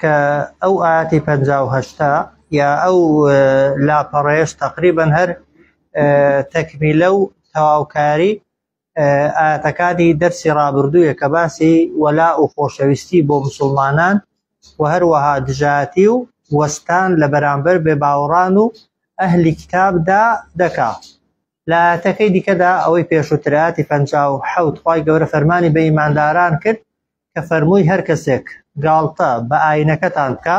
کە ئەو ئاتی پەنجا و هەشتا یا ئەو لاپەڕەیەش تەقریبەن هەر تەکمیلە و تەواوکاری ئاتەکانی دەرسی ڕابردوویە کە باسی وەلا و خۆشەویستی بۆ مسلمانان و هەروەها دژاتی و وەستان لە بەرامبەر بێ باوەڕان و ئەهلی کتابدا دەکا لایەتەکەی دیکەدا ئەوەی پێشووتر، ئایەتی پەنجا و حەوت، خوای گەورە فەرمانی بە ئیمانداران کرد کە فەرمووی هەر کەسێک گاڵتە بە ئاینەکەتان بکا،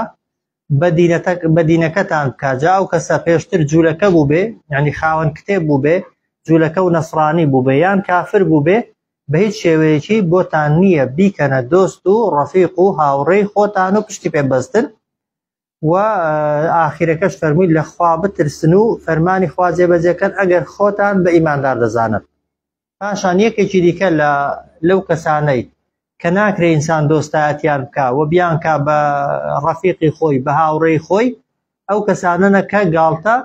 بە دینەتە، بە دینەکەتان بکا، جا ئەو کەسە پێشتر جوولەکە بووبێ، یەعنی خاوەن کتێب بووبێ، جوولەکە و نەسڕانی بووبێ، یان کافر بووبێ، بە هیچ شێوەیەکی بۆتان نییە بیکەنە دۆست و ڕەفیق و هاوڕێی خۆتان و پشتی پێ ببەستن، و ئاخیرەکەش فەرمووی لە خوا بترسن و فەرمانی خوا جێبەجێکەن ئەگەر خۆتان بە ئیماندار دەزانن پاشان یەکێکی دیکە لە لەو کەسانەی کە ناکرێ ئینسان دۆستایەتیان بکە و بیانکە بە ڕەفیقی خۆی بە هاوڕێی خۆی ئەو کەسانەنە کە گاڵتە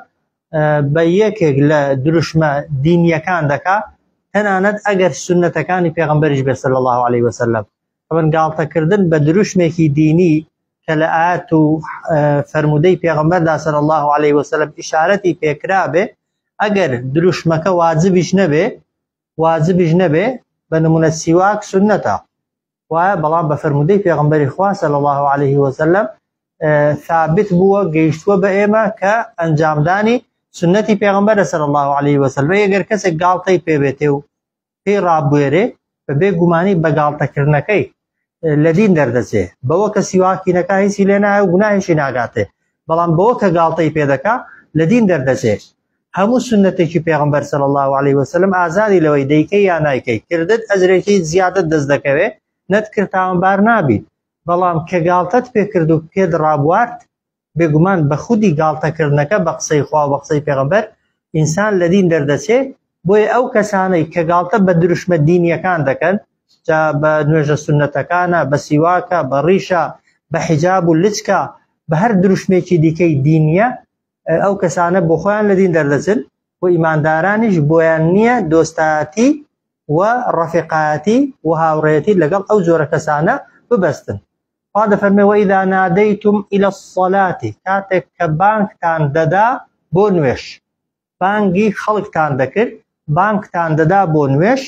بە یەکێک لە دروشمە دینیەکان دەکا تەنانەت ئەگەر سنتەکانی پێغمبەریش بێسەر لە الله عليه وسلم ئەمن گاڵتەکردن بە دروشمێکی دینی کە لە ئاەت و فەرموودەی پێغمبەردا سەر الله عليه وسلم ئشارەتی پێکرابێ ئەگەر دروشمەکە واجبیش نەبێ واجبیش نەبێ بە نمونە سیواک سنەتە وایە بەڵام بە فەرموودەی پێغمبەری خوا سەر الله عليه وسلم ثابت بووە گەیشتووە بە ئێمە کە ئەنجامدانی سنەتی پێغمبەر سەر الله عليه وسلم ئەگەر کەسێک گاڵتەی پێبێتێ و پێی ڕابوێرێ بە بێ گومانی بە گاڵتەکردنەکەی لە دین دەردەچێ بەوە کە سیواکینەکە هیچی لێ نایە و گوناهیشی ناگاتێ بەڵام بەوە کە گاڵتەی پێدەکا لە دین دەردەچێ هەموو سنتێکی پێغمبەر سەل الله عليه وسلم ئازادی لەوەی دەیکەی یا نایکەی کردت ئەجرێکی زیادت دەست دەکەوێ نەتکرد تاوانبار نابیت بەڵام کە گاڵتەت پێکرد و پێت ڕابوارد بێگومان بە خودی گاڵتەکردنەکە بە قسەی خوا و بە قسەی پێغەمبەر ئینسان لە دین دەردەچێ، بۆیە ئەو کەسانەی کە گاڵتە بە دروشمە دینییەکان دەکەن، جا بە نوێژە سوننەتەکانە، بە سیواکە، بە ڕیشە، بە حیجاب و لچکە، بە هەر دروشمێکی دیکەی دینییە، ئەو کەسانە بۆ خۆیان لە دین دەردەچن و ئیماندارانیش بۆیان نییە دۆستایەتی و ڕەفیقایەتی و هاوڕێیەتی لەگەڵ ئەو جۆرە کەسانە ببەستن. خوا دەفەرمێ وەئیدا نادەیتم ئیلە الصەلاتی کاتێک کە بانگتان دەدا بۆ نوێش بانگی خەڵکتان دەکرد بانگتان دەدا بۆ نوێش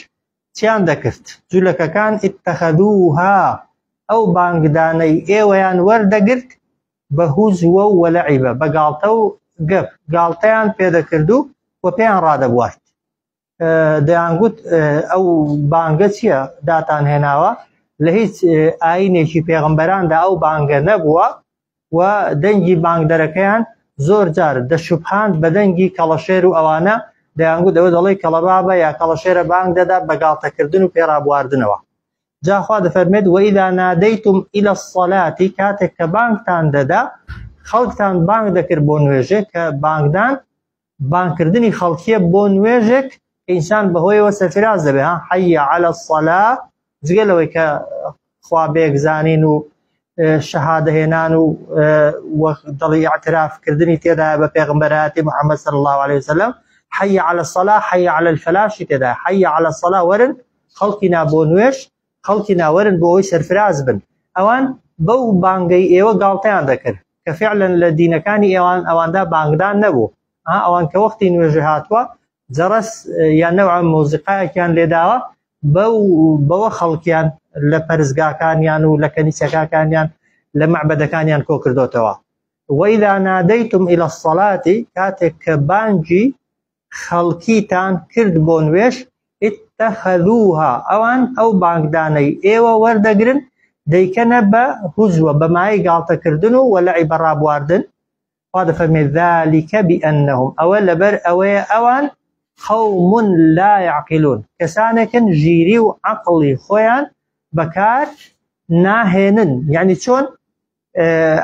چیان دەکرد جولەکەکان اتخذوها ئەو بانگدانەی ئێوەیان وەردەگرت بە هوزوە و وەلعیبە بە گاڵتە و گەپ گاڵتەیان پێدەکرد و و پێیان ڕادەبوارد دەیانگوت ئەو بانگە چییە داتان هێناوە لە هیچ ئاینێکی پێغمبەراندا ئەو بانگە نەبووە و دەنگی بانگدەرەکەیان زۆر جار دەشوبهاند بە دەنگی کەڵەشێر و ئەوانە دەیانگوت ئەوە دەڵی کەڵەبابە یا کەڵەشێرە بانگ دەدا بە گاڵتەکردن و پێڕابواردنەوە جاخوا دەفەرمێت وەئیدا نادەیتم ئیلە سەلاتی کاتێک کە بانگتان دەدا خەڵکتان بانگ دەکرد بۆ نوێژێ کە بانگدان بانگ کردنی خەڵکیە بۆ نوێژێک کە ئینسان بەهۆیەوە سەرفراز دەبێ ها حەیە عەلە سەلا جگە لەوەی کە خوا بێگزانین و شەهادە هێنان و دڵی اعتراف کردنی تێدا بە پێغمبەراتی محەممەد صلی الله عليه وسلم حەیە عەلە سەلا حەیە عەلە الفلاشی تێدا حەیە عەلە سەلا وەرن خەڵکی نا بۆ نوێش خەڵکی ناوەرن بۆ ئەوی سەرفراز بن ئەوان بەو بانگەی ئێوە گاڵتەیان دەکرد کە فعلەن لە دینەکانی ئێوان ئەواندا بانگدان نەبوو ئا ئەوان کە وەختی نوێژێ هاتووە جەڕەس یان نەوع مۆزیقایەکیان لێداوە بەو بەوە خەڵکیان لە پەرزگاکانیان و لە کەنیسەکاکانیان لە مەعبەدەکانیان کۆ کردوتەوە وەیلا نادەیتم ئیلە سەڵاتی کاتێک کە بانگی خەڵکیتان کرد بۆ نوێژ، اتخذوها، ئەوان ئەو بانگدانەی ئێوە وەردەگرن دەیکەنە بە هوزوە، بە مایەی گاڵتەکردن و وەلعی بە ڕابواردن، خوا دەفەرمێ، ذلک بانهم، ئەوە لەبەر ئەوەیە ئەوان، قوم لا یعقلون، کەسانێکن ژیری و عەقڵی خۆیان بەکار ناهێنن، یەعنی چۆن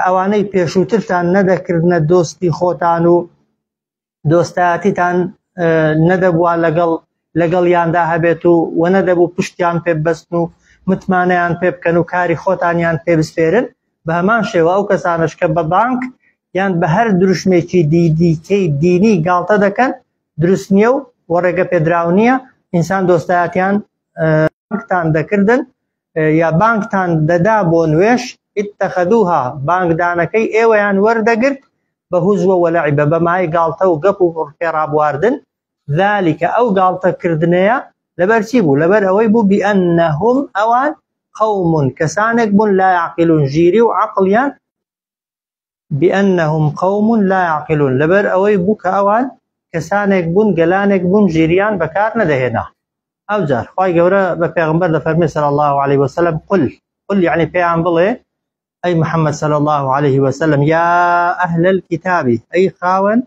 ئەوانەی پێشووترتان نەدەکردنە دۆستی خۆتان و دۆستایەتیتان نەدەبووە لەگەڵ لەگەڵ یاندا هەبێت و وەنە دەبوو پشتیان پێ بەستن و متمانەیان پێ بکەن و کاری خۆتانیان پێ بسپێرن بە هەمان شێوە ئەو کەسانش کە بە بانک یان بە هەر دروشمێکی دیدیکەی دینی گاڵتە دەکەن دروست نییە و وەڕێگە پێدراو نییە ئینسان دۆستایەتیان تان دەکردن یا بانگتان دەدا بۆ نوێژ، اتخذوها، بانگدانەکەی ئێوەیان وەردەگرت بە هوزوە ولعبە، بە مایەی گاڵتە و گەپ و پێڕابواردن، ذالک، ئەو گاڵتە کردنەیە لەبەر چی بوو؟ لەبەر ئەوەی بوو بانهم، ئەوان، قوم، کەسانێک بوون لا یعقلون، ژیری و عەقڵیان، بانهم قوم لا یعقلون لەبەر ئەوەی بوو کە ئەوان کەسانێک بوون گەلانێک بوون ژیریان بەکار نەدەهێنا ئەوجار خوای گەورە بە پێغمبەر دەفەرمێ صلی الله علیه وسلم قل قل یعنی پێیان بڵێ ئەی محمد صلی الله عليه وسلم یا ئەهل الكتاب ئەی خاوەن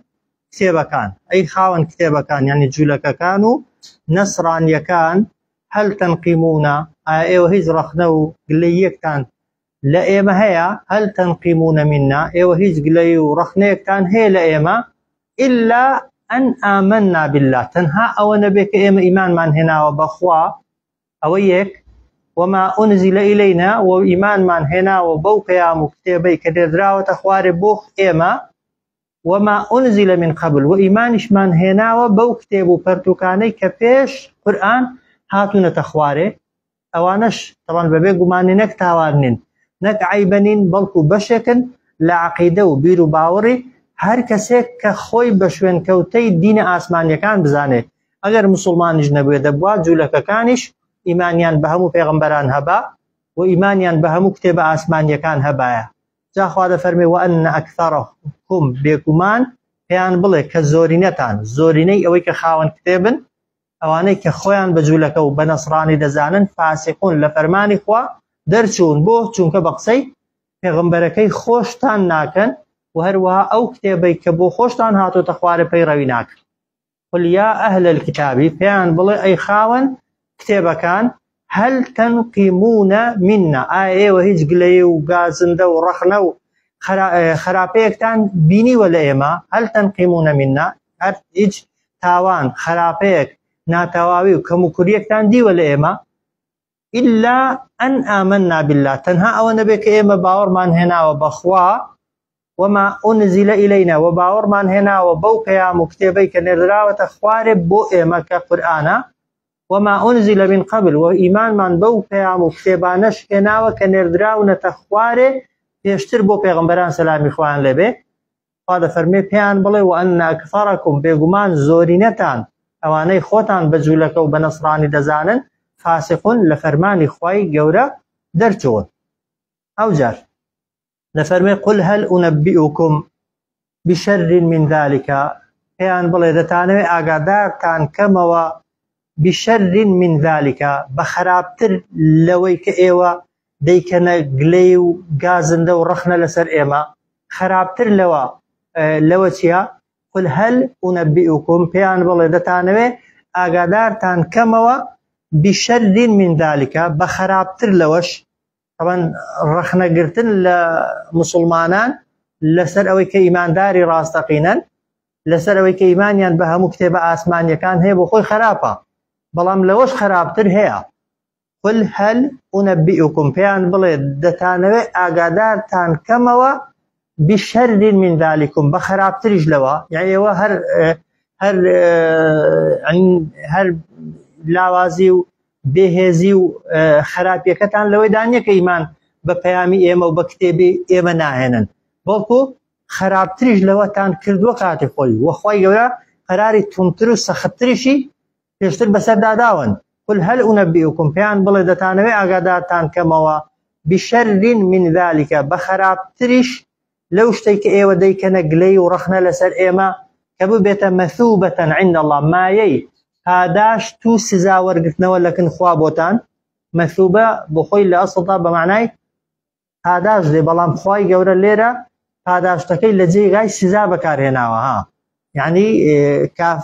کتێبەکان ئەی خاوەن کتێبەکان یعنی جوولەکەکان و نەسرانیەکان هەل تەنقیمونە ئایا ئێوە هیچ ڕەخنە و گلەیەکتان لە ئێمە هەیە، هل تنقمون منا، ئێوە هیچ گلەیی و ڕەخنەیەکتان هەیە لە ئێمە، الا ان آمنا باللە، تەنها ئەوە نەبێت کە ئێمە ئیمانمان هێناوە بە خوا، ئەوە یەک، وما انزل الینا، و ئیمانمان هێناوە بەو پەیام و کتێبەی کە نێردراوەتە خوارێ بۆ ئێمە، وما انزل من قبل، و ئیمانیشمان هێناوە بەو کتێب و پەرتووکانەی کە پێش، قورئان، هاتوونەتە خوارێ، ئەوانەش تەوان بەبێ گومانی نەک تاوان نین نەک عیبە نین بەڵکو بەشێکن لە عقیدە و بیر و باوەڕی هەر کەسێک کە خۆی بە شوێن کەوتەی دینە ئاسمانیەکان بزانێت ئەگەر مسلمانیش نەبێ دەبوا جوولەکەکانیش ئیمانیان بە هەموو پێغمبەران هەبا و ئیمانیان بە هەموو کتێبە ئاسمانیەکان هەبایە جاخوا دەفەرمێ وە ئەن ئەکثەرە کوم بێگومان پێیان بڵێ کە زۆرینەتان زۆرینەی ئەوەی کە خاوەن کتێبن ئەوانەی کە خۆیان بە جولەکە و بە نەسڕانی دەزانن فاسقون لە فەرمانی خوا دەرچوون بۆ چونکە بە قسەی پێغمبەرەکەی خۆشتان ناکەن و هەروەها ئەو کتێبەی کە بۆ خۆشتان هاتۆتە خوارە پەیڕەوی ناکەن قل یا ئەهل الکتابی پێیان بڵێ ئەی خاوەن کتێبەکان هەل تەنقیموونە میننا، ئایا ئێوە هیچ گلەیی و گازندە و ڕەخنە و خەراپەیەکتان بینیوە لە ئێمە؟ هەل تەنقیموونە میننا، هەر هیچ تاوان، خەراپەیەک، ناتەواوی و کەموکوریەکتان دیوە لە ئێمە؟ ئیلا ئەن ئامەننا باللە، تەنها ئەوە نەبێت کە ئێمە باوەڕمان هێناوە بە خوا، وما انزل الینا وە باوەڕمان هێناوە بەو پەیام و کتێبەی کە نێردراوەتە خوارێ بۆ ئێمە کە قورئانە وما انزل من قبل وە ئیمانمان بەو پەیام و کتێبانەش هێناوە کە نێردراونەتە خوارێ پێشتر بۆ پێغمبەران سەلامی خوان لێبێ خوا دەفەرمێ پێیان بڵێ و ئەن ئەکثەرەکم بێگومان زۆرینەتان ئەوانەی خۆتان بە جوولەکە و بە نەسرانی دەزانن فاسقون لە فەرمانی خوای گەورە دەرچوون ئەوجار دەفەرمێ قل هەل ئونەبیئوکم بشەرین من ذلكە پێیان بڵێ دەتانەوێ ئاگادارتان کەمەوە بشەرین من ذلكە بە خراپتر لەوەی کە ئێوە دەیکەنە گلەی و گازندە و ڕەخنە لەسەر ئێمە خراپتر لەوە لەوە چیە قل هەل ئونەبیئوکم پێیان بڵێ دەتانەوێ ئاگادارتان کەمەوە بشەرین من ذلكە بە خراپتر لەوەش تەبەن ڕەخنەگرتن لە مسلمانان لەسەر ئەوەی کە ئیمانداری ڕاستەقینەن لەسەر ئەوەی کە ئیمانیان بە هەموو کتێبە ئاسمانیەکان هەیە بۆ خۆی خراپە بەڵام لەوەش خراپتر هەیە قل هەل ئونەبیئکم پێیان بڵێ دەتانەوێت ئاگادارتان کەمەوە بشر من ذلكم بە خراپتریش لەوە یعنی ئێوە هەر هەر هەر لاوازی و بێهێزی و خراپیەکەتان لەوەی دانیەکە ئیمان بە پەیامی ئێمە و بە کتێبی ئێمە ناهێنن بەڵکو خراپتریش لەوەتان کردووە کاتی خۆی وەخوای گەورە قەراری تونتر و سەختتریشی پێشتر بەسەردا داون قل هل انبئکم پێیان بڵێ دەتانەوێ ئاگادارتان کەمەوە بشر من ذلك بە خراپتریش لەو شتەی کە ئێوە دەیکەنە گلەی و ڕەخنە لەسەر ئێمە کە ببێتە مەثوبەتەن عند الله مایەی پاداشت و سزا وەرگرتنەوە لەکن خوا بۆتان مەثوبە بۆ خۆی لە ئەسڵدا بە معنای پاداشت دێ بەڵام خوای گەورە لێرە پاداشتەکەی لە جێگای سزا بەکارهێناوە ها یعنی کاف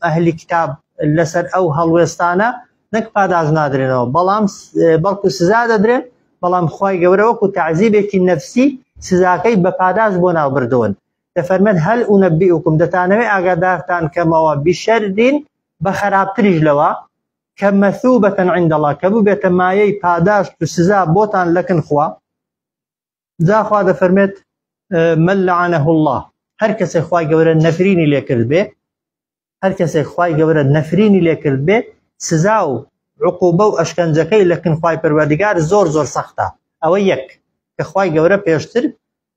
ئەهلی کتاب لەسەر ئەو هەڵوێستانە نەک پاداش نادرێنەوە بەڵام بەڵکو سزا دەدرێن بەڵام خی گەورە وەکو تعزیبێکی نەفسی سزاکەی بە پاداش بۆ ناو بردوون دەفەرمێن هەل و نەبی وکم دەتانەوەی ئاگادارتان کەمەوە بیشەردین بە خراپتریش لەوە کە مەثوبە عند اللە کە ببێتە مایەی پاداشت و سزا بۆتان لەکن خوا جا خوا دەفەرمێت من لعنه الله هەر کەسێک خوای گەورە نەفرینی لێکرد بێ هەر کەسێک خوای گەورە نەفرینی لێکرد بێ سزا و عقوبە و ئەشکەنجەکەی لەکن خوای پەروەردگار زۆر زۆر سەختە ئەوە یەک کە خوای گەورە پێشتر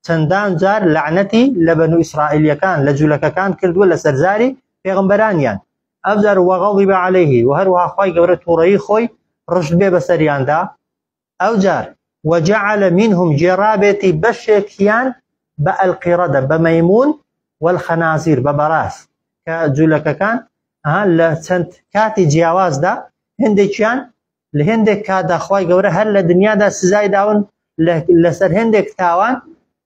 چەندان جار لەعنەتی لە بەنو ئیسرائیلیەکان لە جولەکەکان کردووە لەسەر زاری پێغمبەرانیان ئەوجار وەغەڵیب عەلەیه و هەروەها خوای گەورە تووڕەیی خۆی ڕشت بێ بەسەریاندا ئەوجار وجعل منهم جێڕابێتی بەشێکیان بە ئەلقیڕەدە بە مەیمون والخنازیر بە بەڕاست کە جولەکەکان لە چەند کاتی جیاوازدا هەندێکیان لە هێندێک کاتدا خوای گەورە هەر لە دنیادا سزای داون لەسەر هێندێک تاوان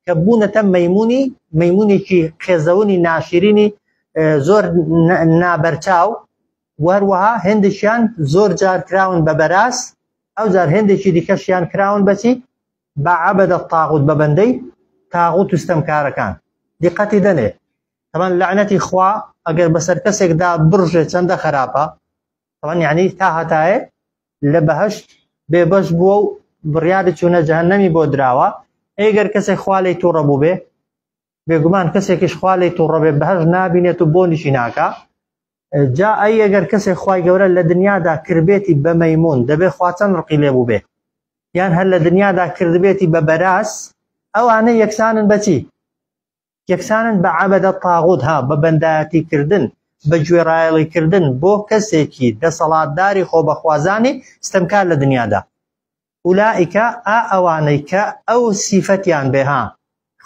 کە بوونەتە مەمونی مەمونێکی قێزەونی ناشرینی زۆر نابەرچاو وەروەها هێندێکیان زۆر جار کراون بە بەراز ئەو جار هێندێکی دیکەشیان کراون بەچی بە عبدە تاغوت بە بەندەی تاغوت و ستەمکارەکان دیقەتی دەنێ تەمان لەعنەتی خوا ئەگەر بەسەر کەسێکدا بڕژێ چەندە خراپە طبعا یعنی تا هەتایە لە بەهشت بێبەش بووە و بڕیاری چوونە جەهنەمی بۆ دراوە ئەگەر کەسێک خوالی تووڕە بوو بێ بێگومان کەسێکیش خوالی تووڕە بێ بەهش نابینێت و بۆنیشی ناکە جا ئەی ئەگەر کەسێک خی گەورە لە دنیادا کردێتی بە مەمون دەبێ خواچەند ڕقی لێ بوو بێ یان هەر لە دنیادا کردبێتی بە بەراز ئەوانە یەکسانن بەچی یەکسانن بە عەبەدە الطاغوت ها بە بەندایەتی کردن بە گوێڕایەڵی کردن بۆ کەسێکی دەسەڵاتداری خۆبەخوازانی ستەمکار لە دنیادا ئولائیکە ئا ئەوانەی کە ئەو سیفەتیان بێ ها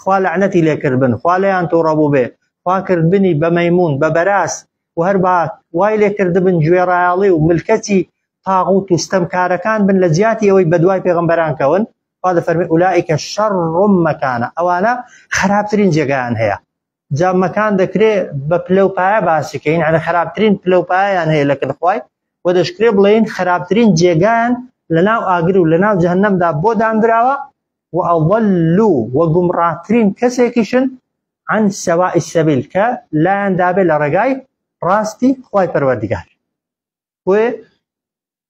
خوا لەعنەتی لێکرد بن خوا لێیان تووڕە بوو بێ خوا کردبنی بە مەیمون بە بەراز و هەربا وای لێکردبن گوێڕایەڵی و ملکەچی تاغوت و ستەمکارەکان بن لە جیاتی ئەوەی بەدوای پێغەمبەران کەون خوا دەفەرمێ ئولائیکە شەڕ مەکانە ئەوانە خراپترین جێگایان هەیە جا مەکان دەکرێ بە پلە و پایە باسیکەین ئەە خراپترین پلە و پایان هەیە لە کردخوای و دەشکرێ بڵێن خراپترین جێگایان لە ناو ئاگر و لە ناو جەهنەمدا بۆ دانراوە و ئەوەلو و گومڕاترین کەسێکیشن عن سەوا ئیسەبیل کە لایەن دابێ لە ڕێگای ڕاستی خی پەروەردگار بۆیە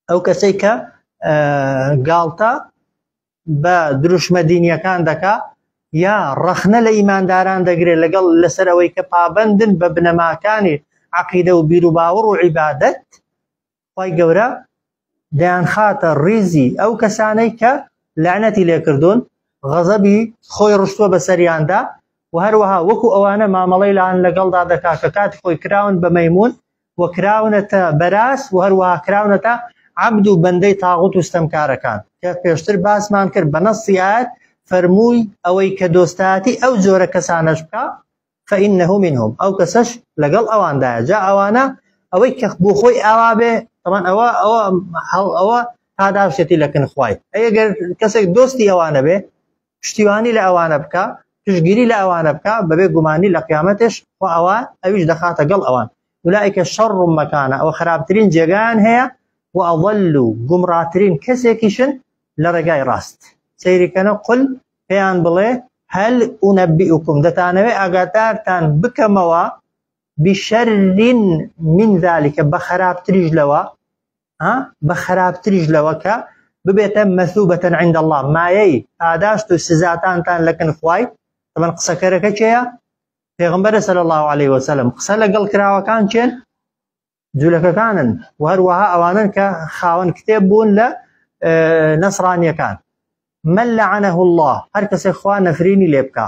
ئەو کەسەی کە گاڵتە بە دروشمە دینیەکان دەکا یا ڕەخنە لە ئیمانداران دەگرێت لەگەڵ لەسەر ئەوەی کە پابندن بە بنەماکانی عقیدە و بیروباوەڕ و عیبادەت خی گەورە دەیان خاتە ڕیزی ئەو کەسانەی کە لەعنەتی لێکردوون غەزەبی خۆی ڕشتووە بە سەریاندا و هەروەها وەکو ئەوانە مامەڵی لاان لەگەڵدا دەکا کە کاتی خۆی کراون بە مەمون و کراونەتە بەراز و هەروەها کراونەتە عبد و بەندەی تاغوت و ستەمکارەکان کە پێشتر باسمان کرد بە نەسی ئاەت فەرمووی ئەوەی کە دۆستایەتی ئەو جۆرە کەسانەش بکە فەئینەه منهم ئەو کەسەش لەگەڵ ئەواندایە جا ئەوانە ئەوەی کە بۆ خۆی ئاوا بێ تەمان ئەوە ئەوە ئەوە پاداشتێتی لەکن خوای ئەگەر کەسێک دۆستی ئەوانە بێ پشتیوانی لە ئەوانە بکا پشتگیری لە ئەوانە بکا بەبێ گومانی لە قیامەتش خۆ ئەوە ئەویش دەخاتە گەڵ ئەوان ولائیکە شەڕ ڕومەکانە ئەوە خراپترین جێگان هەیە و ئەوەل و گومڕاترین کەسێکیشن لە ڕێگای ڕاست سەیریکەنە قل پێیان بڵێ هەل و نەبی وکم دەتانەوێ ئاگادارتان بکەمەوە بشەرین من ذلكکە بە خراپتریش لەوە بە خراپتریش لەوە کە ببێتە مەسوبەتەن عند الله مایەی پاداشت و سزاتانتان لەکن خوای من قسەکەرەکە چێە پێغمبەرە سەر الله عليه وسلم قسە لەگەڵ کراوەکان چێن جوولەکەکانن و هەروەها ئەوانن کە خاوەن کتێب بوون لە نەسرانیەکان من لعنه الله هەر کەسێک خوا نەفرینی لێ بکە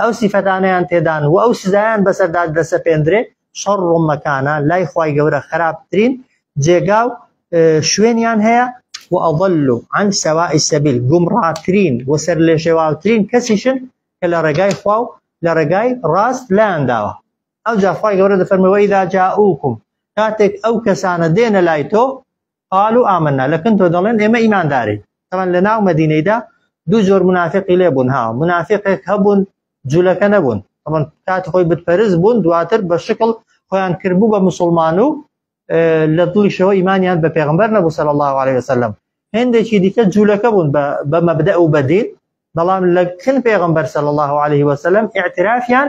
ئەو سیفەتانەیان تێدان و ئەو سزایان بەسەردا دەسەپێندرێ شەڕ ڕومەکانە لای خی گەورە خراپترین جێگا و شوێنیان هەیە و ئەڵ و ئەن سەوا ئیسەبیل گومڕاترین و سەر لێ شێواوترین کەسیشن کە لە ڕێگای خوا و لە ڕێگای ڕاست لایان داوە ئەو جاخوای گەورە دەفەرمەوەی داجا ئوکم کاتێک ئەو کەسانە دێنە لای تۆ قالوا آمنا لە کن تۆ دەڵێن ئێمە ئیماندارین تەمان لە ناو مەدینەیدا دوو جۆر منافقی لێ بوون ها منافقێک هەبوون جولەکە نەبوون تەمان کات خۆی بتپەرز بوون دواتر بە شکڵ خۆیان کردبوو بە مسلمان و لە دڵیشەوە ئیمانیان بە پێغمبەر نەبوو سەر الله عليه وسلم هەندێکی دیکە جوولەکە بوون بە مەبدە و بەدین بەڵام لە کن پێغمبەر سەر الله عليه وسلم اعترافیان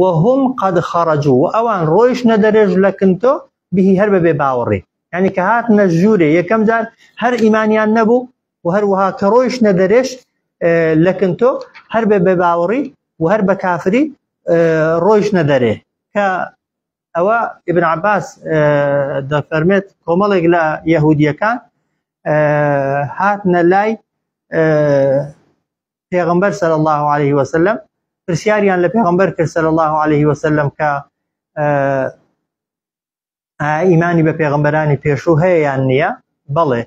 وهم قد خرجو و ئەوان ڕۆیشتنە دەرێ ژلەکنتۆ بیهی هەر بە بێ باوەڕی یعنی کە هاتنە ژوورێ یەکەم جار هەر ئیمانیان نەبوو و هەروەها کە ڕۆیشتنە دەرێش لەکنتۆ هەر بە بێ باوەڕی و هەر بە کافری ڕۆیشتنە دەرێ کە ئەوە ئبن عباس دەفەرمێت کۆمەڵێک لە یەهودیەکان هاتنە لای پێغمبەر سەر الله عليه وسلم پرسیاریان لە پێغمبەر کرد سەر الله عليه وسلم کە ئیمانی بە پێغمبەرانی پێشوو هەیە یان نییە بەڵێ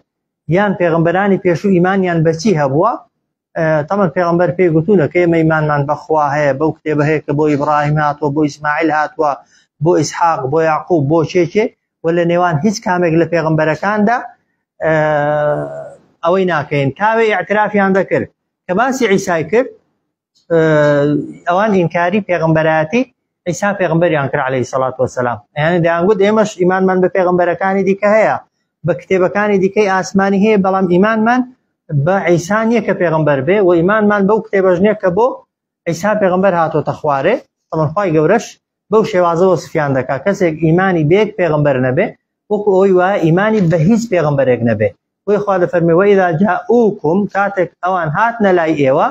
یان پێغمبەرانی پێشوو ئیمانیان بەچی هەبووە تەمە پێغمبەر پێی گوتوونە کە مەیمانمان بەخوا هەیە بەو کتێبە هەیە کە بۆ ئیبراهیم هاتووە بۆ ئیسماعیل هاتووە بۆ ئیسحاق بۆ یاقوب بۆ چێکێ و لە نێوان هیچ کامێک لە پێغمبەرەکاندا ئەوەی ناکەین تاوێ ئاعترافیان دەکرد کە باسی عیسای کرد ئەوان ئینکاری پێغمبەراتی عیسا پێغمبەریان کرد عليه سەڵات وسلام یان دەیانگوت ئێمەش ئیمانمان بە پێغمبەرەکانی دیکە هەیە بە کتێبەکانی دیکەی ئاسمانی هەیە بەڵام ئیمانمان بە عیسان یە کە پێغمبەر بێ و ئیمانمان بەو کتێبەژنێک کە بۆ عیسا پێغمبەر هاتۆتە خوارێ ئەڵخوای گەورەش بەو شێوازە وەسفیان دەکا کەسێک ئیمانی بێک پێغمبەر نەبێ وەکو ئەوی وایە ئیمانی بە هیچ پێغمبەرێک نەبێ بۆی خوا دەفەرمی وەیدا جاءوکم کاتێک ئەوان هات نەلای ئێوە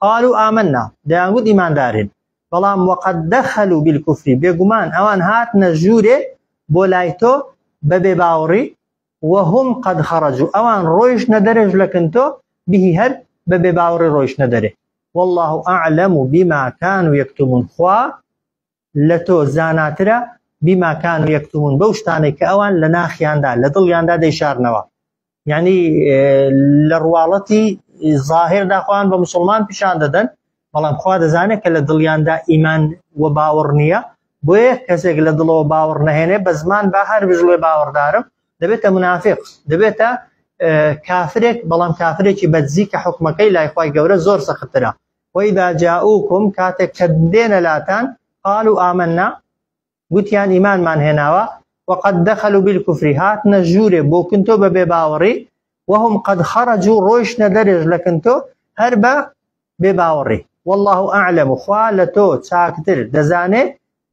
قالو ئامننا دەیانگوت ئیماندارین بەڵام وەقد دەخەلو بالکفری بێگومان ئەوان هات نەژوورێ بۆ لای تۆ بەبێ باوەڕی وهم قد خرجو ئەوان ڕۆیشتنە دەرێژ لە کنتۆ بیهی هەر بە بێ باوڕی ڕۆیشتنە دەرێ واللە اعلم بما کانو یکتمون خوا لە تۆ زاناترە بما کانو یکتمون بەو شتانەی کە ئەوان لە ناخیاندا لە دڵیاندا دەیشارنەوە یعنی لە ڕواڵەتی ظاهر داخوان بە مسلمان پیشان دەدەن بەڵام خوا دەزانێت کە لە دڵیاندا ئیمان و باوەڕ نییە بۆیە کەسێک لە دڵەوە باوەڕ نەهێنێ بە زمان با هەر بژڵێ باوەڕدارم دەبێتە منافق دەبێتە کافرێک بەڵام کافرێکی بەدزی کە حکومەکەی لایخوای گەورە زۆر سەخترا وەی داجاوکم کاتێک کە دێنە لاتان قال و ئامننا گوتیان ئیمانمان هێناوە وقد دخلوا بالكفر هاتنە ژوورێ بۆ کنتۆ بە بێ باوەڕی وهم قد خرجوا ڕۆیشتە دەرێژ لە کنتۆ هەر بە بێ باوەڕی والله اعلم خوا لە تۆ چاکتر دەزانێ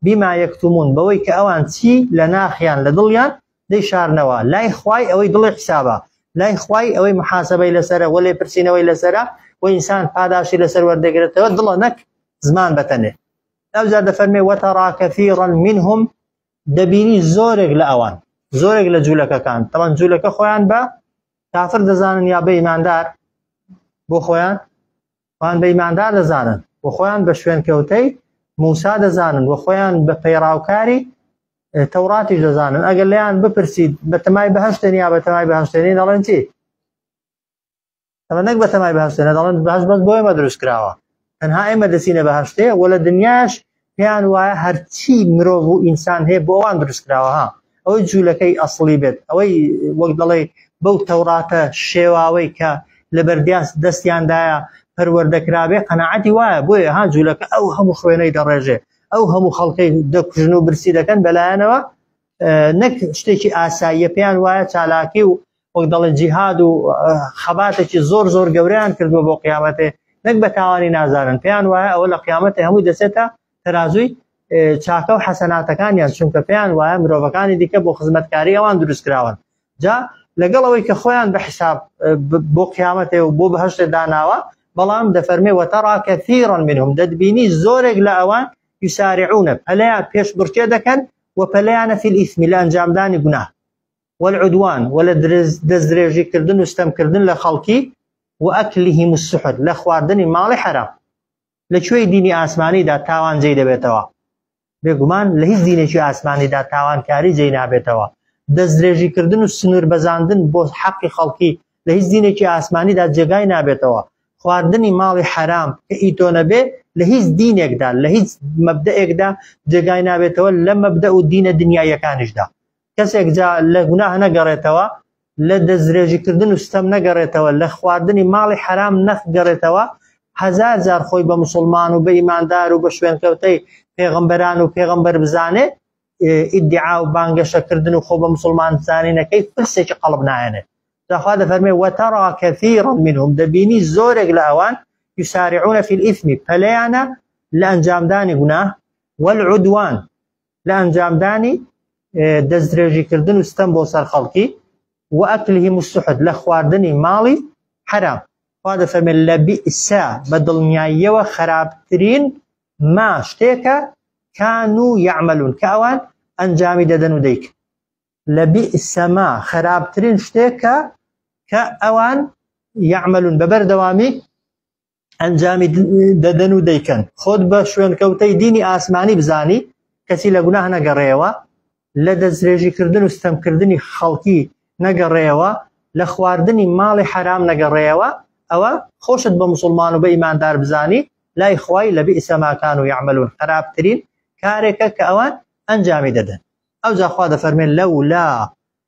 بما یەکتمون بەوەی کە ئەوان چی لە ناخیان لە دڵیان دەی شارنەوە لای خوای ئەوەی دڵی حسابە لای خوای ئەوەی محاسبەی لەسرە وەلێ پرسیینەوەی لەسرە و ئینسان پاداشی لەسەر وەردەگرێتەوە دڵە نەک زمان بەتەنێ ئەوجا دەفەرمێ وەتەڕا کەثیرا منهم دەبینی زۆرێک لە ئەوان زۆرێک لە جوولەکەکان تەوان جوولەکە خۆیان بە کافر دەزانن یا بە ئیماندار بۆ خۆیان خۆیان بە ئیماندار دەزانن و خۆیان بە شوێنکەوتەی موسا دەزانن و خۆیان بە پەیڕاوکاری تەوڕاتیش دەزانن ئەگەر لەیان بپرسید بە تەمای بەهشتێن یا بە تەمای بەهشتێنین دەڵێن چی ئەمە نەک بەتەمای بەهشتێ نەدەڵێن بەهش بەس بۆ ئێمە دروست کراوە تەنها ئێمە دەچینە بەهشتێ وە لە دنیاش پێیان وایە هەرچی مرۆڤ و ئینسان هەیە بۆ ئەوان دروست کراوە ها ئەوەی جوولەکەی ئەسڵی بێت ئەوەی وەک دەڵێ بەو تەوڕاتە شێواوەی کە لە بەردیاس دەستیاندایە پەروەردەکرابێ قەنەعەتی وایە بۆیە ها جوولەکە ئەو هەموو خوێنەی دەڕێژێ ئەو هەموو خەڵکەی دەکوژن و برسی دەکەن بەلایەنەوە نەک شتێکی ئاساییە پێیان وایە چالاکی و وەک دەڵێن جیهاد و خەباتێکی زۆر زۆر گەوریان کردووە بۆ قیامەتێ نەک بە تاوانی نازانن پێیان وایە ئەوە لە قیامەتی هەمووی دەچێتە تەازووی چاکە و حەسەناتەکانیان چونکە پێیان وایە مرۆڤەکانی دیکە بۆ خزمەتکاری ئەوان دروستکراون جا لەگەڵ ئەوەی کە خۆیان بە حساب بۆ قیامەتێ و بۆ بەهشتێ داناوە بەڵام دەفەرمێ وەتەڕا کەثیرن منهم دەتبینی زۆرێک لە ئەوان یسارعونە پەلیان پێش بڕکێ دەکەن و پەلیانە فیل ئیسمی لە ئەنجامدانی گونا والعدوان و لە دەستدرێژی کردن و ستەم کردن لە خەڵکی وأکلهم السحت لە خواردنی ماڵی حەرام لە کوێی دینی ئاسمانیدا تاوان جێی دەبێتەوە بێگومان لە هیچ دینێکی ئاسمانیدا تاوانکاری جێی نابێتەوە دەستدرێژی کردن و سنوور بەزاندن بۆ حەقی خەڵکی لە هیچ دینێکی ئاسمانیدا جێگای نابێتەوە خواردنی ماڵی حەرام کە ئیتۆ نەبێ لە هیچ دینێکدا لە هیچ مەبدەئێکدا جێگای نابێتەوە لە مەبدە و دینە دنیایەکانیشدا کەسێک جا لە گوناه نەگەڕێتەوە لە دەستدرێژیکردن و ستەم نەگەڕێتەوە لە خواردنی ماڵی حرام نەخگەڕێتەوە هەزار جار خۆی بە مسلمان و بە ئیماندار و بە شوێنکەوتەی پێغمبەران و پێغمبەر بزانێ ئیدعا و بانگەشەکردن و خۆ بە مسلمان زانینەکەی پرسێکی قەڵب نایەنێ داخوا دەفەرمێ وەتەڕا کەثیرا منهم دەبینی زۆرێک لە ئەوان یسارعونە فی الئیثمی پەلیانە لە ئەنجامدانی گوناه والعدوان لە ئەنجامدانی دەستدرێژیکردن و ستەم بۆ سەر خەڵکی و ئەکلهم السحت لە خواردنی ماڵی حەرام خوا دەفەرمێت لە بیئسە بە دڵنیاییەوە خراپترین ما شتێکە کان و یعملون کە ئەوان ئەنجامی دەدەن و دەیکن لە بیئسە ما خراپترین شتێکە کە ئەوان یعملون بە بەردەوامی ئەنجامی دەدەن و دەیکەن خۆت بە شوێنکەوتەی دینی ئاسمانی بزانی کەسی لە گوناه نەگەڕێەوە لە دەسترێژیکردن و ستەمکردنی خەڵکی نەگەڕێەوە لە خواردنی ماڵی حرام نەگەڕێەوە ئەوە خۆشت بە مسلمان و بە ئیماندار بزانی لای خوای لە بئسەماکان و یعملون خراپترین کارێکە کە ئەوان ئەنجامی دەدەن ئەو جاخوا دەفەرمێن لەولا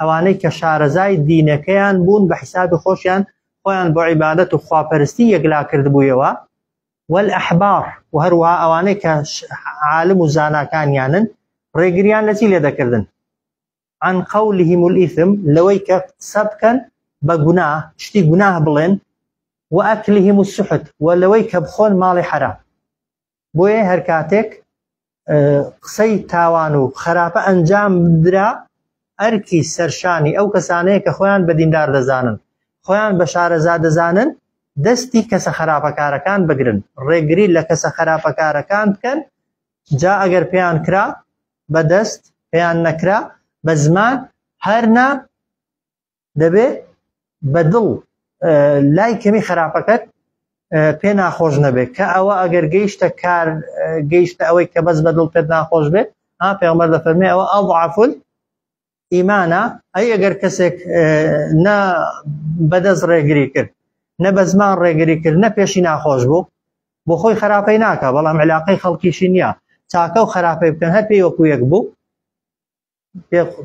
ئەوانەی کە شارەزای دینەکەیان بوون بە حیسابی خۆشیان خۆیان بۆ عیبادەت و خواپەرستی یەکلا کردبوویەوە وەل ئەحبار و هەروە ئەوانەی کە عالم و زاناکانیانن ڕێگریان لە چی لێ دەکردن عن قولهم الإثم لەوەی کە قسە بکەن بە گوناه شتی گوناه بڵێن وأكلهم السحت ولوي كبخون مالي حرام بۆیە هەرکاتێک قسەی تاوان و خراپە ئەنجام درا ئەرکی سەرشانی ئەو کەسانەیە کە خۆیان بە دیندار دەزانن خۆیان بە شارەزا دەزانن دەستی کەسە خراپەکارەکان بگرن ڕێگری لە کەسە خراپەکارەکان بکەن جا ئەگەر پێیان کرا بەدەست پێیان نەکرا بە زمان هەرنا دەبێ بە دڵ لای کەمی خراپەکەت پێ ناخۆش نەبێت کە ئەوە ئەگەر گەیشتە کار گەیشتە ئەوەی کە بەس بە دڵ پێت ناخۆش بێت ها پێغمبەر دەفەرمێ ئەوە ئەضعفل ئیمانە ئەی ئەگەر کەسێک نە بەدەست ڕێگری کرد نە بە زمان ڕێگری کرد نە پێشی ناخۆش بوو بۆ خۆی خراپەی ناکە بەڵام علاقەی خەڵکیشی نییە چاکە و خراپەی بکەن هەر پێی وەکو یەک بوو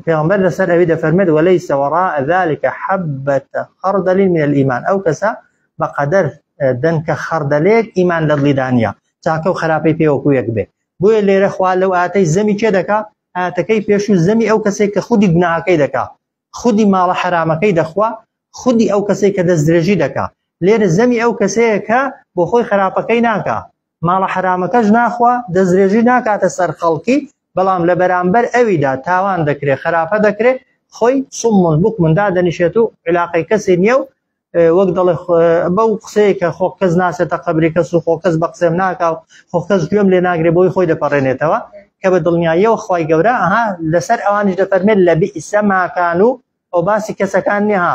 پێغمبەر لەسەر ئەوی دەفەرمێت وەلەی سەوەڕا ئەذلکە حەبەتە خەڕدەلی من الإيمان ئەو کەسە بەقەدەر دەنکە خەڕدەلێک ئیمان لە دڵیدانە چاکە و خراپەی پێوەکو یەک بێ بۆیە لێرە خوا لەو ئاتەی زەمی چێ دەکا ئاتەکەی پێش و زەمی ئەو کەسێک کە خودی گوناهەکەی دەکا خودی ماڵە حرامەکەی دەخوا خودی ئەو کەسێک کە دەست درێژی دەکا لێرە زەمی ئەو کەسەیە کە بۆ خۆی خراپەکەی ناکە ماڵە حرامەکەش ناخوا دەسترێژی ناکاتە سەر خەڵکی بەڵام لە بەرامبەر ئەویدا تاوان دەکرێت خراپە دەکرێت خۆی سمون بک مندا دەنیشێت و علاقی کەسی نییە و وەک دەڵێ بەو قسەیە کە خۆ کەس ناسێتە قبری کەس و خۆ کەس بە قسەم ناکا و خۆ کەس گوێم لێ ناگرێ بۆی خۆی دەپەڕێنێتەوە کە بە دڵنیاییەوە خی گەورە ئەها لەسەر ئەوانیش دەفەرمێت لە بئیسە ماکان و ئەو باسی کەسەکان نیها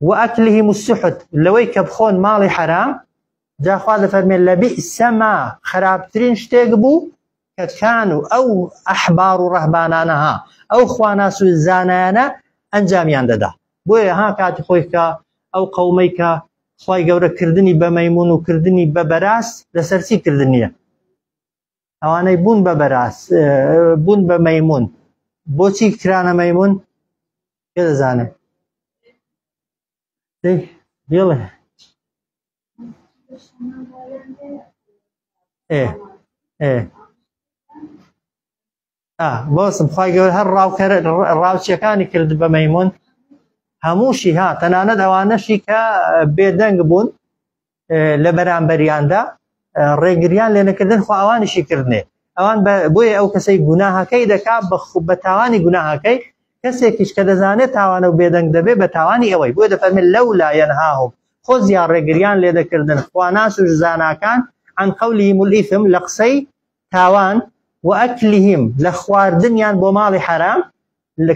وأكلهم السحت لەوەی کە بخۆن ماڵی حەرام جاخوا دەفەرمێن لە بئسما خراپترین شتێک بوو کە کان و ئەو ئەحبار و ڕەهبانانەها ئەو خواناس و زانایانە ئەنجامیان دەدا بۆیە ها کاتی خۆی کە ئەو قەومەی کە خی گەورە کردنی بە مەمون و کردنی بە بەراز لەسەرچی کردنیە ئەوانەی بوون بە بەراز بوون بە مەمون بۆچی کرانە مەمون پێ دەزانم بڵێ ئێ ئێ باسم خی گەور هەر ڕاوکەر ڕاوچیەکانی کرد بە مەمون هەمووشی ها تەنانەت ئەوانەشی کە بێدەنگ بوون لە بەرامبەریاندا ڕێگریان لێ نەکردن خواوانیشی کردنێ ئەوان بۆیە ئەو کەسەی گوناهەکەی دەکا بە تاوانی گوناهەکەی کەسێکیش کە دەزانێت تاوانە و بێدەنگ دەبێ بە تاوانی ئەوەی بۆ دەفەرمێت لەو لایەن هاهم خۆ زیان ڕێگریان لێ دەکردن خواناس و زاناکان عن قولهم الإثم لە قسەی تاوان، وئەکلهم، لە خواردنیان بۆ ماڵی حەرام،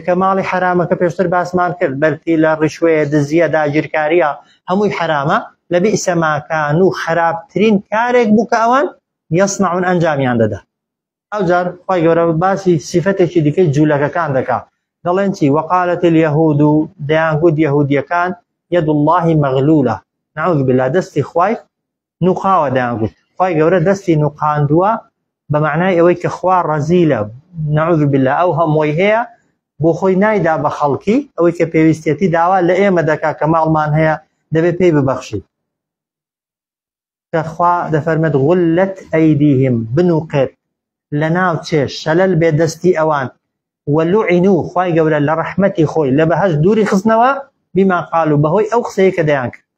کە ماڵی حەرامەکە پێشتر باسمان کرد بەرتیلە، ڕیشوەیە، دزیە، داگیرکاریە، هەمووی حەرامە، لەبیئس ماکانو خەراپترین کارێک بوو کە ئەوان، یەسنەعون، ئەنجامیان دەدا. ئەوجار خوای گەورە باسی سیفەتێکی دیکەی جولەکەکان دەکا دەڵێن چی، وقالت الیهود، دەیانگوت یەهودیەکان، یەد اللە مەغلولە، نعوذ باللە، دەستی خوای نوقاوە دەیان گوت خی گەورە دەستی نوقاندووە بە معنای ئەوەی کە خوا ڕەزیلە نەعوذ بالله ئەو هەمووی هەیە بۆ خۆی نایدا بە خەڵکی ئەوەی کە پێویستێتی داوا لە ئێمە دەکا کە ماڵمان هەیە دەبێت پێی ببەخشی کەخوا دەفەرمێت غلت ئەیدیهم بنوقێت لە ناو چێ شەلل بێ دەستی ئەوان وەلوعین و خی گەورە لە ڕەحمەتی خۆی لە بەهش دووری خستنەوە بیمان قال و بەهۆی ئەو قسەیە کە دەیان کرد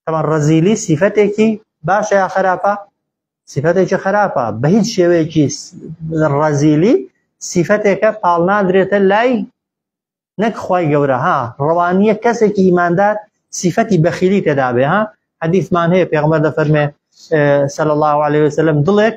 طبعا ڕەزیلی سیفەتێکی باشە یا خراپە سیفەتێکی خراپە بە هیچ شێوەیەکی ڕەزیلی سیفەتێکە پاڵنادرێتە لای نەک خی گەورە ها ڕەوانیە کەسێکی ئیماندار سیفەتی بەخیلی تێدابێ ها حەدیثمان هەیە پێغمە دەفەرمێ سەل الله عليه وسلم دڵێک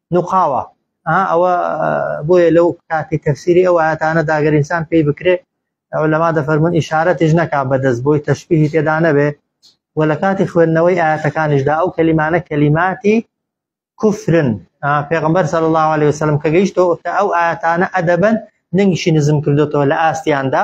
نوقاوە ئەوە بۆیە لەو کاتی تەفسیری ئەو ئاەتانە داگەر ئینسان پێی بکرێ ئەو لەما دەفەرمون ئیشارەتیش نەکا بەدەست بۆی تەشبیهی تێدا نەبێ و لە کاتی خوێندنەوەی ئاەتەکانیشدا ئەو کەلیمانە کەلیماتی کوفرن پێغمبەر سەر الله عليه وسلم کە گەیشتەوە کە ئەو ئاەتانە ئەدەبن دەنگیشی نزم کردوێتەوە لە ئاستیاندا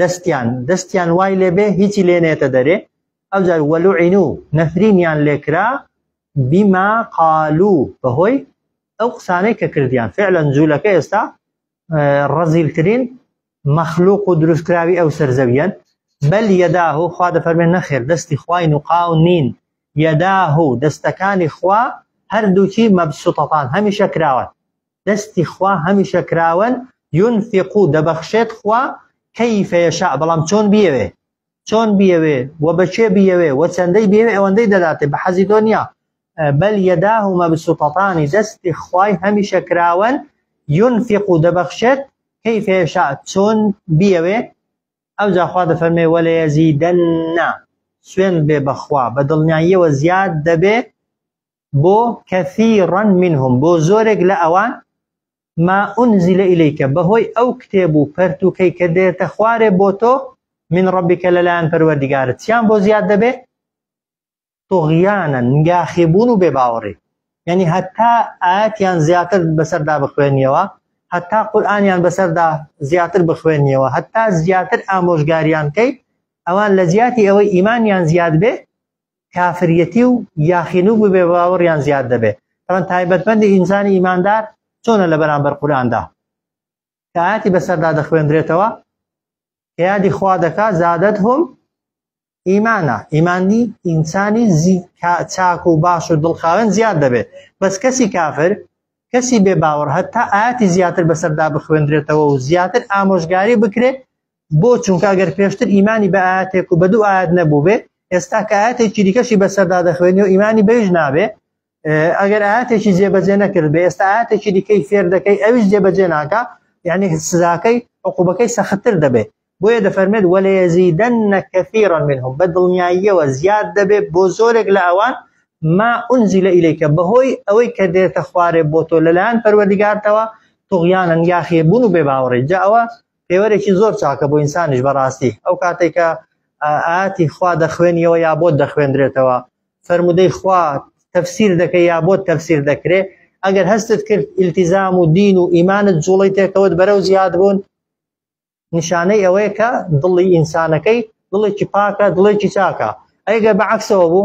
دەستیان دەستیان وای لێبێ هیچی لێ نێتە دەرێ ئەوجار وەلوعین و نەفرینیان لێکرا بیما قالو بەهۆی ئەو قسانەی کە کردیان فعلەن جوولەکە ئێستا ڕەزیلترین مەخلوق و دروستکراوی ئەو سەرزەویەن بەل یەداه و خوا دەفەرمێن نەخێر دەستی خوین و قاو نین یەداه و دەستەکانی خوا هەردووکی مەبسوتەتان هەمیشە کراوە دەستی خوا هەمیشە کراوەن ينفق دەبەخشێت خوا كيف يشاء بەڵام چۆن بیەوێ چۆن بیەوێ و بەچێ بیەوێ و چەندەی بێوێ ئەوەندەی دەداتێ بە حەزی تۆ نییە بەل یەداه و مەبسوطەتانی دەستی خوای هەمیشە کراوەن ينفق و دەبەخشێت كيف يشاء چۆن بیەوێ ئەو جاخوا دەفەرمێ وەلە یەزیدەننا سوێن بێ بەخوا بە دڵنیاییەوە زیاد دەبێ بۆ کەثیرا منهم بۆ زۆرێک لە ئەوان ما ئونزیلە ئیلیکە بەهۆی ئەو کتێب و پەرتووکەی کە دێتە خوارێ بۆ تۆ من ڕەبیکە لەلایەن پەروەردگارت چیان بۆ زیاد دەبێ طغیانا گاخیبوون و بێباوەڕی یعنی هەتا ئاەتیان زیاتر بەسەردا بخوێنیەوە هەتا قورآانیان بەسەردا زیاتر بخوێنیەوە هەتا زیاتر ئامۆژگاریان کەیت ئەوان لە جیاتی ئەوەی ئیمانیان زیاد بێ کافریەتی و یاخینو ببێ باوەڕیان زیاد دەبێ ئەمە تایبەتمەندی ئینسانی ئیماندار چۆنە لە بەرامبەر قوراندا کە ئاەتی بەسەردا دەخوێندرێتەوە یادی خوا دەکا زادت هم ئیمانە ئیمانی ئینسانی چاک و باش و دڵخاوێن زیاد دەبێت بەس کەسی کافر کەسی بێ باوەڕ هەتا ئاتی زیاتر بەسەردا بخوێندرێتەوە و زیاتر ئامۆژگاری بکرێت بۆ چونکە ئەگەر پێشتر ئیمانی بە ئاەتێک و بە دوو ئاەت نەبوو بێ ئێستا کە ئاەتێکی دیکەشی بەسەردا دەخوێنی و ئیمانی بەیش نابێ ئەگەر ئاەتێکی جێبەجێ نەکرد بێ ئێستا ئاەتێکی دیکەی فێر دەکەی ئەویش جێبەجێ ناکە یعنی سزاکەی عقوبەکەی سەختتر دەبێت بۆیە دەفەرمێت وەلێزیدەن نەکەفیڕە منهم بە دڵنیاییەوە زیاد دەبێت بۆ زۆرێک لە ئەوان ما ئونزی لە ئیلەیکە بەهۆی ئەوەی کە دێتە خوارێ بۆ تۆ لەلایەن پەروەردیگارتەوە تۆغیانن یاخیبوون و بێ باوەڕی جا ئەوە پێوەرێکی زۆر چاکە بۆ ئینسانیش بەڕاستی ئەو کاتێک کە ئاتی خوا دەخوێنیەوە یا بۆت دەخوێندرێتەوە فەرمودەی خوا تەفسیر دەکەی یا بۆت تەفسیر دەکرێت ئەگەر هەستت کرد ئیلتیزام و دین و ئیمانت جوڵی تێکەوت بەرەو زیاد بوون نیشانەی ئەوەیە کە دڵی ئینسانەکەی دڵێکی پاکە دڵێکی چاکە ئەگە بەعکسەوە بوو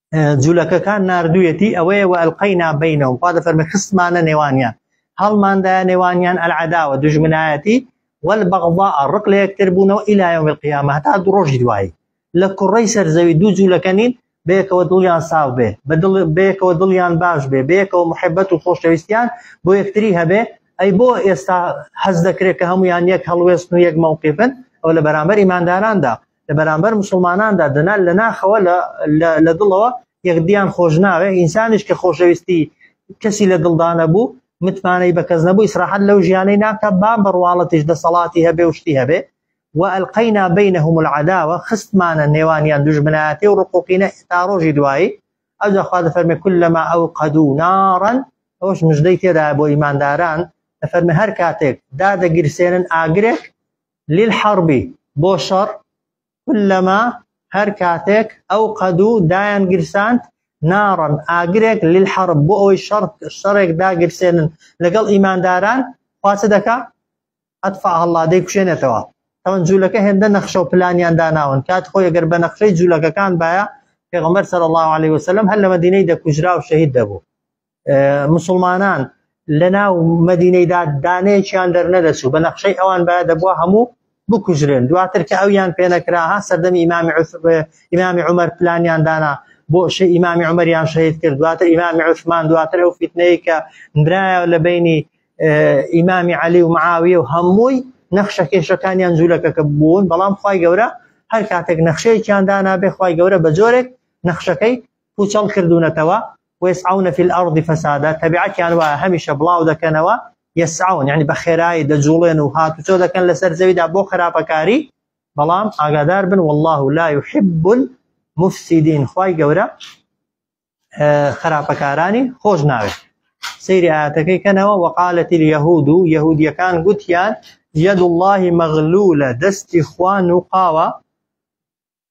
جولەکەکان ناردویەتی ئەوەیە و ئەلقەینا بینەوە خوا دەفەرمە خستمانە نێوانیان هەڵماندایە نێوانیان ئەلعداوە دژمنایەتی والبغضاء ڕق لە یەکتر بوونەوە إلى يوم القيامة هەتا دوو ڕۆژی دوایی لە کوڕەی سەرزەوی دوو جوولەکە نین بەیەکەوە دڵیان ساو بێ بەدڵ بەیەکەوە دڵیان باش بێ بەیەکەوە محبەت و خۆشەویستیان بۆ یەکتری هەبێ ئەی بۆ ئێستا هەز دەکرێت کە هەمویان یەک هەڵوێستن و یەک مەوقیفن ئەو لە بەرامبەر ئیمانداراندا لە بەرامبەر مسلماناندا دەنا لە ناخەوە لە دڵەوە یەکدیان خۆش ناوێ ئینسانیش کە خۆشەویستی کەسی لە دڵدانە بوو متمانەی بە کەس نەبوو ئیسراحەت لەو ژیانەی ناکە با بڕواڵەتیش دەسەڵاتی هەبێ و شتی هەبێ و ئەلقەینا بینەهم العداوە خستمانە نێوانیان دژمنایەتی و ڕقوقینە تا ڕۆژی دوایی ئەو جاخوا دەفەرمێ کل لەما ئەو قەدوو نارن ئەوش مژدەی تێدا بۆ ئیمانداران دەفەرمێ هەر کاتێک دادەگیرسێنن ئاگرێک للحرب، بۆ شەڕ، کلما، هەر کاتێک، ئەوقەدوو، دایان گیرساند، ناڕا، ئاگرێک، للحرب، بۆ ئەوەی شەڕ، شەڕێک، داگیرسێنن لەگەڵ ئیمانداران، خوا چ دەکا؟ اطفاها اللە، دەیکوشێنێتەوە. تەوەن جوولەکە هێندە نەخشە و پلانیان داناون، کاتی خۆی گەر بە نەخشەی جوولەکەکان بایە، پێغەمبەر صلی اللە علیە وسلم هەر لە مەدینەی دەکوژرا و شەهید دەبوو. مسلمانان لە ناو مدینەیدا دانەیەکیان دەرنەدەچوو بە نەخشەی ئەوان بە دەبووە هەموو بکوژرێن دواتر کە ئەویان پێنەکرا ها سەردەمی ئیمامی ئیمامی عمر پلانیان دانا بۆ شە ئیمامی عمریان شەهید کرد دواتر ئیمامی عوسمان دواتر ئەو فیتنەیە کە نرایە لە بینی ئیمامی علی و معاویە و هەمووی نەخشە کێشەکانیان جوولەکەکە بوون بەڵام خی گەورە هەر کاتێک نەخشەیەکیان دانابێ خی گەورە بە جۆرێک نەخشەکەی پوچەڵ کردونەتەوە، ویسعون فی الارض فسادا، تەبیعەتیان وایە هەمیشە بڵاو دەکەنەوە، یسعون یەعنی بە خێرایی دەجوڵێن و هاتوچۆ دەکەن لەسەر زەویدا بۆ خراپەکاری، بەڵام ئاگادار بن واللە لا یحب المفسدین خوای گەورە خراپەکارانی خۆش ناوێت. سەیری ئاەتەکەی کەنەوە وەقالەتی یهود و یهودیەکان گوتیان یەد اللهی مەغلولە دەستی خوان و قاوە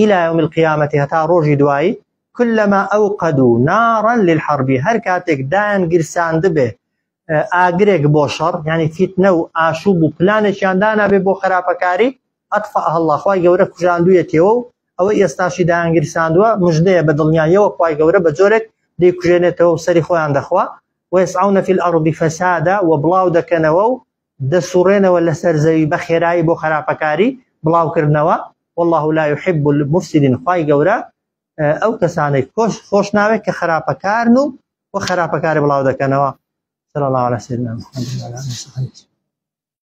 الی یوم القیامە هەتا ڕۆژی دوایی کلما اوقدو نارا للحرب هەر کاتێک دایان گیرساندبێ ئاگرێک بۆ شەڕ یعنی فیتنە و ئاشوب و پلانێکیان دانابێ بۆ خراپەکاری ئەطفئها اللە خوای گەورە کوژاندوویەتیەوە و ئەوەی ئێستاشی دایان گیرساندووە مژدەیە بە دڵنیاییەوە خوای گەورە بە جۆرێک دەیکوژێنێتەوە و سەری خۆیان دەخوا ویسعون فی الارض فسادا و بڵاو دەکەنەوە و دەسوڕێنەوە لەسەر زەوی بە خێرایی بۆ خەراپەکاری بڵاو کردنەوە واللە لا یحب المفسدین خوای گەورە ئەو کەسانەی کۆش خۆش ناوێت کە خەراپەکارن و وە خەراپەکاری بڵاو دەکەنەوە صلی الله علی سیدنا محمد